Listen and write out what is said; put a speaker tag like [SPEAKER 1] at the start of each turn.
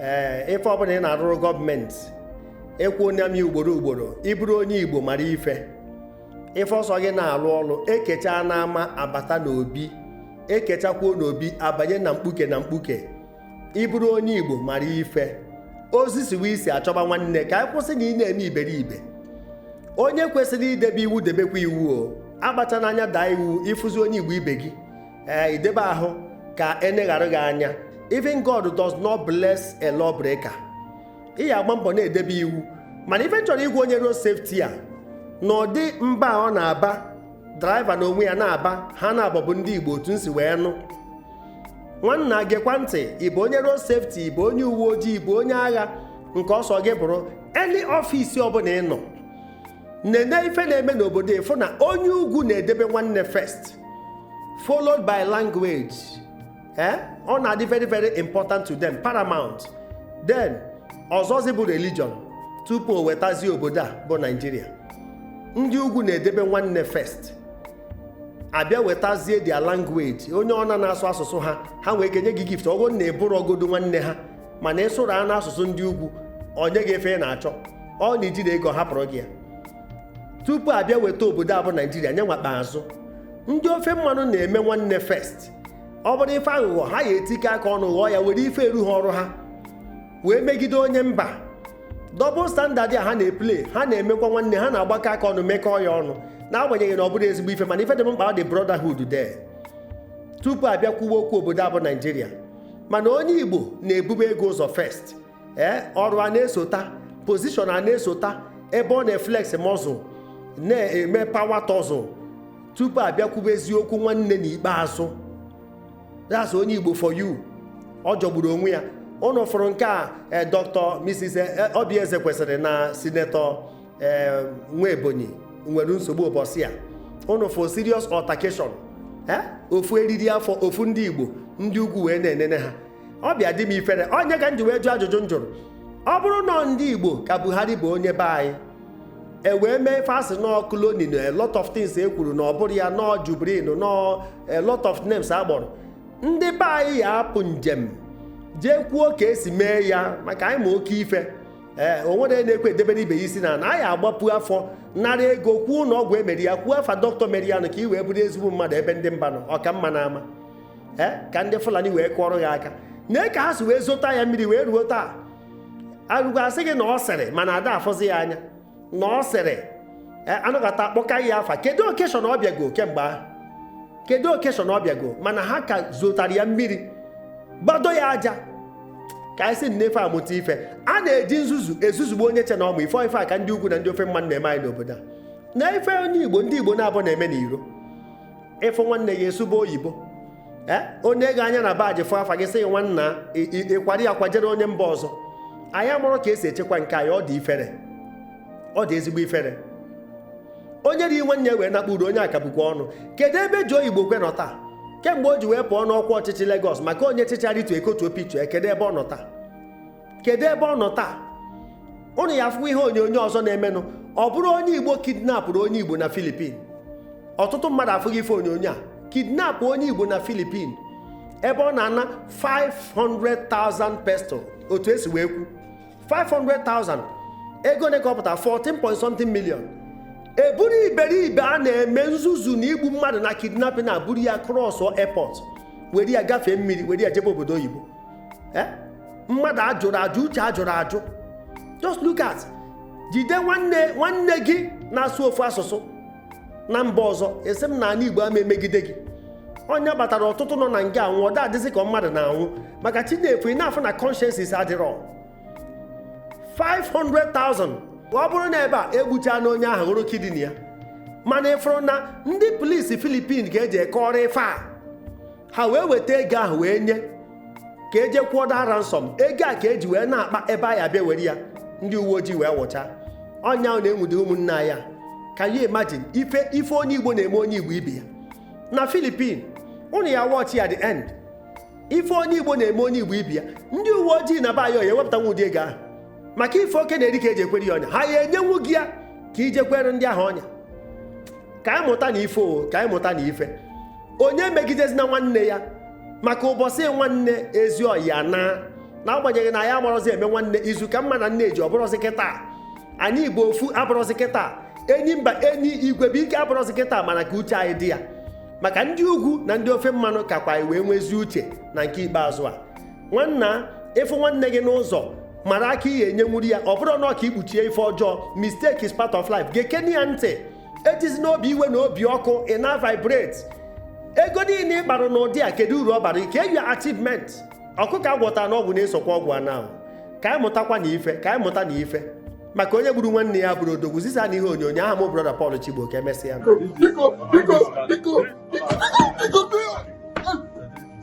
[SPEAKER 1] ee ife ọbụla ị na-arụrụ gọọmenti ekwuona m ya ugboro ugboro ị bụrụ onye igbo mara ife ife ọ sọ gị na-alụ ọlụ e kechaa n'ama a bata n'obi e kechakwuo n'obi a banye na mkpuke na mkpuke ị bụrụ onye igbo mara ife ozu siwe isi a chọba nwanne ka anyị kwụsị na ị na-eme iberibe onye kwesịrị idebe iwu debekwa iwu o akpachana anya daa iwu ị fụzi onye igbo ibe gị ee i debe ahụ ka e neghara gị anya even God does not bless a lawbreaker ị ya-agba mbọ na-edebe iwu mana ife m chọrọ ịgwa onye road safety a na ụdị mba ọ na-aba draiva na onwe ya na-aba ha na-abọbụ ndị Igbo otu m si wee nụ nwanna gekwa ntị ị bụ onye road safety ị bụ onye uwe ojii ị bụ onye agha nke ọ sọ gị bụrụ any office ọbụla ị nọ nene ife na-eme n'obodo ị fụ na onye ugwu na-edebe nwanne first followed by language eh? ọ na-adị very very important to them paramount then ọzọzi bụ religion tupu o wetazie obodo a bụ Nigeria ndị ugwu na-edebe nwanne first a bịa wetazie their language onye ọbụna na-asụ asụsụ ha ha nwee ike nye gị gift ọbụna ị bụrọ godu nwanne ha mana ị sụrụ anụ asụsụ ndị ugwu o nye gị ife ị na-achọ ọ na i jirọ ego hapụrụ gị ya tupu a bịa weta obodo a bụ naijiria n'ikpeazụ ndị ofe mmanụ na-eme nwanne first ọ bụrụ ife aghụghọ ha ya-etikọ aka ọnụ ghọọ ya were ife eru ha ọrụ ha wee megide onye mba double standard a ha na-eplay ha na-emekwa nwanne ha na-agbakọ aka ọnụ mekọọ ya ọnụ n'agbanyeghị na ọ bụrọ ezigbo ife mana ife dị mkpa ọ dị brotherhood de tupu a bịa kwuwe okwu obodo a bụ naijiria mana onye igbo na-ebube ego ụzọ first ee eh, ọrụ ana-esota position ana-esota ebe ọ na-eflex muscle na-eme power tussle tupu a bịa kwubezi okwu nwanne na ikpeazụ that's onye igbo for you ọ jọgburu onwe ya ụnụ fụrụ nke a eh, dr mrs eh, oby ezekwesili na senator ee nwaebonyi nwere nsogbu ụbọsị a ụnụ fụ serious altercation eh? ofu eriri afọ ofu ndị igbo ndị ugwu wee na-enene ha ọ bịa dị m ifere ọ nya ka m ji wee jụọ ajụjụ m jụrụ ọ bụrụ na ndị igbo ka buhari bụ onye be anyị e wee mee ife a sị na ọ cloning a lot of things e kwuru na ọ bụrọ ya na ọ jubrin na a lot of names a kpọrọ ndị be anyị ya-apụ njem jee kwuo ka e si mee ya maka anyị ma oke ife ee eh, o nwere na-ekwe edebere ibe ya isi na na anyị agbapu afọ nara ego kwuo ụlọ ọgwụ e mere ya kwuo afa dọkịta mere ya nụ ka i wee bụrụ ezigbo mmadụ ebe ndị mba nọ ọ ka mma n'ama ee eh, ka ndị fulani wee kụọrọ ya aka na ka ha si wee zụta ya mmiri wee ruo taa arụgo asị gị na ọ sịrị mana a da-afụzi ya anya na ọ sịrị e, anọkata akpọka ya afa kedu okeshọn ọ bịago kemgbe ahụ kedu okeshọn ọ bịago mana ha ka zotara ya mmiri gbado ya aja ka anyị si n'ife amụta ife a na-eji nzuzu ezuzugbo onye che na ọ ma ife ife a ka ndị ugwu na ndị ofe mmanụ na-eme anyị n'obodo a na ife onye igbo ndị igbo na-abụ na-eme n'iro ịfụ nwanne gị asụba oyibo ee o nee gị anya na baji fụ afa gị sị nwanna ịkwara ya kwajere onye mba ọzọ anyị amarọ ka esi echekwa nke anyị ọ dị ifere ọ dị ezigbo ifere onye ree nwanne ya wee nakpuru onye akabukwa ọnụ kedu ebe Joe Igbokwe nọ taa kemgbe o ji wee pụọ n'ọkwa ọchịchị Lagos maka onye chịchaa rịtu ekotu opitu kedu ebe ọ nọ taa kedu ebe ọ nọ taa ụnụ ya-afụkwa ihe onyonyo ọzọ na-emenụ ọ bụrụ onye igbo kidnapụrụ onye igbo na filipin ọtụtụ mmadụ afụghị ife onyonyo a kidnap onye igbo na filipin ebe ọ na-ana 500,000 peso otu esi wee kwuo 500,000 ego ole ka ọ pụtara 14 point something million eburu iberibe a na-eme nzuzu na igbu mmadụ na kidnapping eburu ya cross airport were ya gafee mmiri were ya jebe obodo oyibo eh? mmadụ ajụrụ ajụ uche ajụrụ ajụ just look at jide nwanne nwanne gị na-asụ ofu asụsụ na mba ọzọ asị m na ana igbo ama emegide gị ọ nya kpatara ọtụtụ nọ na nga anwụ ọ adịzi ka mmadụ na-anwụ maka chi na-efu ị na-afụ na conscience adịrọ 500,000 ọ bụrụ na ebe a egbuchanụ onye ahụ ghọrọ kidini ya mana ịfụrụ na ndị polisi filipin ka eje kọọrọ ife a ha wee weta ego ahụ wee nye ka eje kwụọ the ransom ego a ka eji wee n'akpa ebe a ya-abịa were ya ndị uwe ojii wee wụcha ọnya ahụ na-enwude ụmụnna ya can you imagine ife ife onye igbo na-eme onye igbo ibe ya na filipin ụnụ ya watch ya the end ife onye igbo na-eme onye igbo ibe ya ndị uwe ojii n'ebe a ọ ya-ewepụtanwu ụdị ego ahụ maka ife oke na-eri ka eji ekwere ya ọnya ha ya enyenwu gị ya ka ije kwere ndị ahụ ọnya ka anyị mụtanụ ife o ka anyị mụtanụ ife onye emegidezina nwanne ya maka ụbọsị nwanne ezi ọya na n'agbanyeghị na anyị amarọzi eme nwanne izu ka mma na nne ji abụrọzi kịta anyị bụ ofu abụrọzi kịta enyimba enyi igwe bụ ike abụrọzi kịta mana ka uche anyị dị ya maka ndị ugwu na ndị ofe mmanụ kakwa anyị wee nwezi uche na nke ikpeazụ a nwanna ịfụ nwanne gị n'ụzọ mara aka ị ya-enyenwuru ya ọ bụrụ na ọ ka i kpuchie ife ọjọọ mistake is part of life gekene ya ntị ejizina obi iwe na obi ọkụ ị na vibrate ego niile ị kpara n'ụdị a kedu uru ọ bara ike eyi achievement ọkụkọ agwọta n'ọgwụ na-esokwa ọgwụ ana o ka anyị mụtakwanụ ife ka anyị mụtanụ ife maka onye gburu nwanne ya abụrọ odogwu zisanụ ihe onyonyo aha m brọda Paul Chigbo ka emesịa